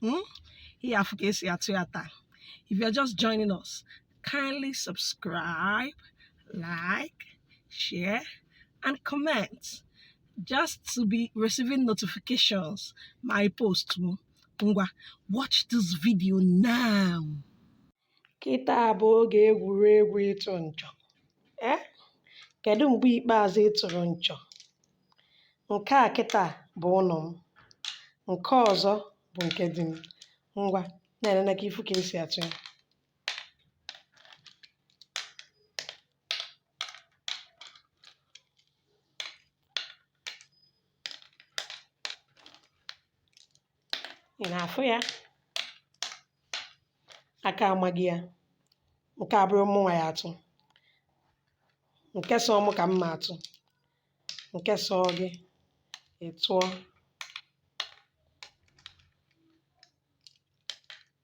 hmm? ihe afụ ka esi atụ ya taa if you are just joining us kindly subscribe like share and comment just to be receiving notifications my post ngwa watch this video now Kịta a bụ oge egwuregwu ịtụ nchọ. Ee, kedụ mgbe ikpeazụ ị tụrụ nchọ? Nke a kịta bụ ụlọ m, nke ọzọ bụ nke di m. Ngwa na-enene ka ị fụ ka e si atụ ya. Ị na-afụ ya? Aka amaghị ya. Nke a bụrụ mụnwa ya-atụ. Nke sọọ mụ ka m ma atụ. Nke sọọ gị, ị tụọ.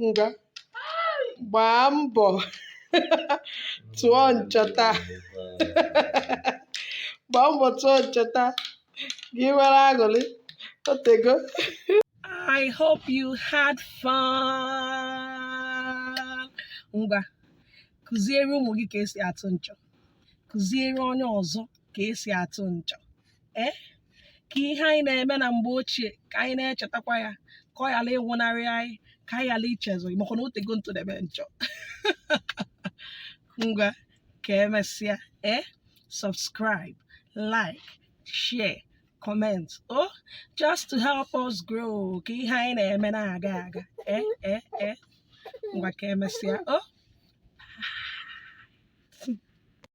ngwa gbaa mbọ tụọ nchọ taa gbaa mbọ tụọ nchọ taa ka i nwere aṅụrị o tego I hope you had fun. Ngwa, kụziere ụmụ gị ka e si atụ nchọ. Kụziere onye ọzọ ka e si atụ nchọ. ee ka ihe anyị na-eme na mgbe ochie ka anyị na-echetakwa ya ka ọ ghara ịnwụnarị anyị ka anyị ghara ichezọ maka na o tego m tụdebe nchọ ngwa ka emesịa ee subscribe like share comment o oh, just to help us grow ka ihe anyị na-eme na-aga aga ee ee ee ngwa ka emesịa o oh.